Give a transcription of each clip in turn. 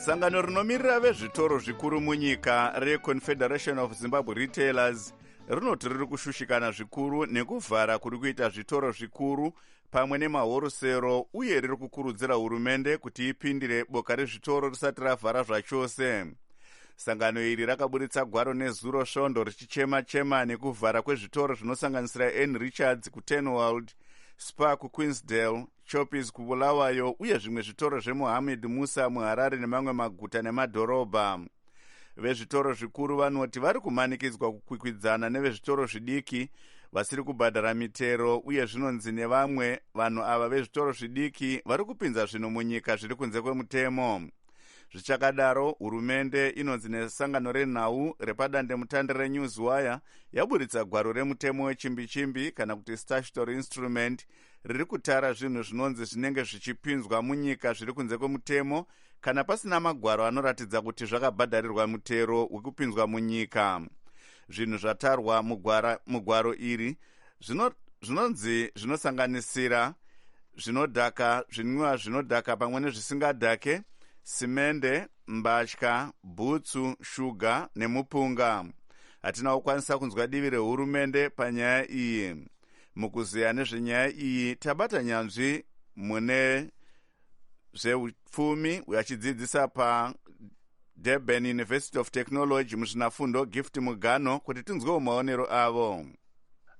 sangano rinomirira vezvitoro zvikuru munyika reconfederation of zimbabwe retailers rinoti riri kushushikana zvikuru nekuvhara kuri kuita zvitoro zvikuru pamwe nemahorosero uye riri kukurudzira hurumende kuti ipindire boka rezvitoro risati ravhara zvachose sangano iri rakaburitsa gwaro nezuro svondo richichema chema nekuvhara kwezvitoro zvinosanganisira n richards kutenwald spar kuqueensdale Choppies kuBulawayo uye zvimwe zvitoro zveMohammed Musa muHarare nemamwe maguta nemadhorobha. Vezvitoro zvikuru vanoti vari kumanikidzwa kukwikwidzana nevezvitoro zvidiki vasiri kubhadhara mitero uye zvinonzi nevamwe vanhu ava vezvitoro zvidiki vari kupinza zvinhu munyika zviri kunze kwemutemo. zvichakadaro hurumende inonzi nesangano renhau repadandemutande renewswire yaburitsa gwaro remutemo wechimbichimbi kana kuti statutory instrument riri kutara zvinhu zvinonzi zvinenge zvichipinzwa munyika zviri kunze kwemutemo kana pasina magwaro anoratidza kuti zvakabhadharirwa mutero wekupinzwa munyika zvinhu zvatarwa mugwaro iri zvinonzi zvinosanganisira zvinodhaka zvinwiwa zvinodhaka pamwe nezvisingadhake simende mbatya bhutsu shuga nemupunga hatina kukwanisa kunzwa divi rehurumende panyaya iyi Mukuzeya nezvenyaya iyi tabata nyanzvi mune zveupfumi uyo achidzidzisa padurban university of technology muzvinafundo gift mugano kuti tinzwewo maonero avo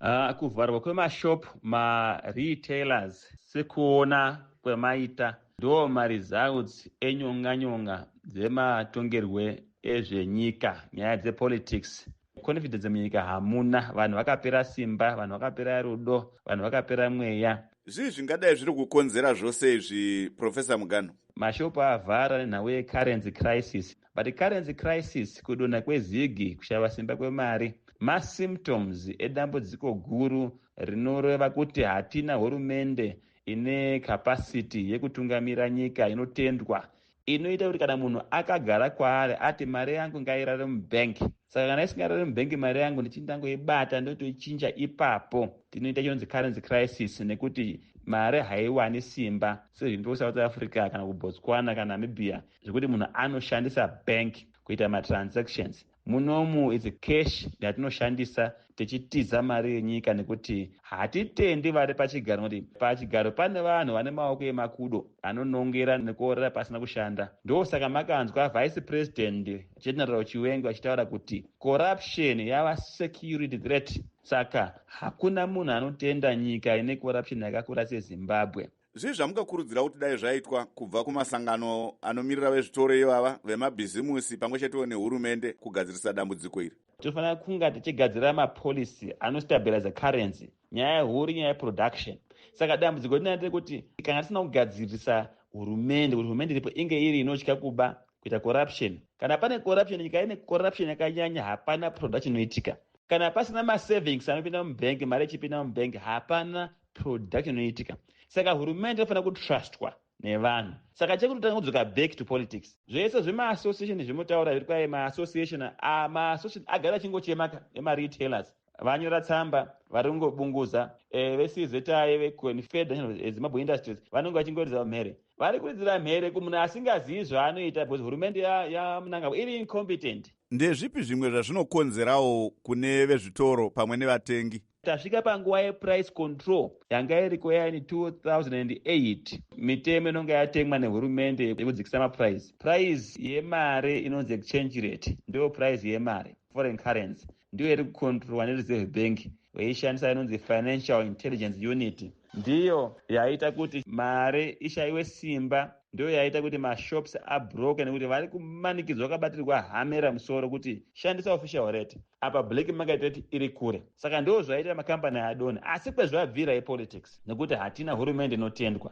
uh, kuvharwa kwemashop maretailers sekuona kwemaita ndo maresults enyonganyonga dzematongerwe ezvenyika nyaya dzepolitics confidence munyika hamuna vanhu vakapera simba vanhu vakapera rudo vanhu vakapera mweya zvii zvingadai zviri kukonzera zvose izvi professor mugano mashopu avhara nenhau yecurrency crisis but currency crisis kudonha kwezigi kushava simba kwemari masymptoms edambudziko guru rinoreva kuti hatina hurumende ine capacity yekutungamira nyika inotendwa inoita kuti kana munhu akagara kwaari ati mari yangu ngairare mubank saka kana isingarare mubank mari yangu ndichii ndangoibata ndotoichinja ipapo tinoita chinonzi currency crisis nekuti mari haiwani simba sezvinto kusouth africa kana kubotswana kana namibia zvekuti munhu anoshandisa bank kuita matransactions Munomu it's cash yatinoshandisa tichitiza mari yenyika nekuti hatitendi vari pachigaro nekuti pachigaro pane vanhu vane maoko emakudo anonongera nekuorera pasina kushanda ndosaka makanzwa vice president general chiwengo achitaura kuti corruption yava security threat saka hakuna munhu anotenda nyika ine corruption yakakura sezimbabwe Zvii zvamungakurudzira kuti dai zvaitwa kubva kumasangano anomirira vezvitoro ivava, vemabhizimusi pamwe chetewo nehurumende kugadzirisa dambudziko iri? Tinofanira kunga tichigadzira mapolicy anostabiriza currency. Nyaya huru nyaya yeproduction. Saka dambudziko rinaa rekuti kana tisina kugadzirisa hurumende, kuti hurumende iripo inge iri inotya kuba kuita corruption. Kana pane corruption, nyika ine corruption yakanyanya, hapana production inoitika. Kana pasina masavings anopinda mubhengi, mari ichipinda mubhengi, hapana production inoitika saka hurumende inofanira kutrustwa nevanhu saka chekuti tanga kudzoka back to politics zvese zvemaassociation zvemotaura zviri kwaye maassociation ah, maassociation agara achingochemaka emaretailers vanyora tsamba vari kungobunguza eh, veczai veconfederation eh, zimbabwe industries vanenge vachingoridza mhere vari kuridzira mhere kumunhu asingazivi zvaanoita because hurumende yamunangagwa iri incompetent ndezvipi zvimwe zvazvinokonzerawo kune vezvitoro pamwe nevatengi Tasvika panguva yeprice control yanga iriko yaini 2008 mitemo inonga yatemwa nehurumende yekudzikisa maprice. Price yemari inonzi exchange rate ndiyo price yemari foreign currency ndiyo iri kucontrolwa nereserve bank veishandisa inonzi financial intelligence unit ndiyo yaita kuti mari ishayiwe simba ndiyo yaita kuti mashops abroke nekuti vari kumanikidzwa vakabatirwa hamera musoro kuti shandisa official rate apa black market rate iri kure saka ndoo zvaita macompany adone asi kwezvabvira ipolitics nekuti hatina hurumende inotendwa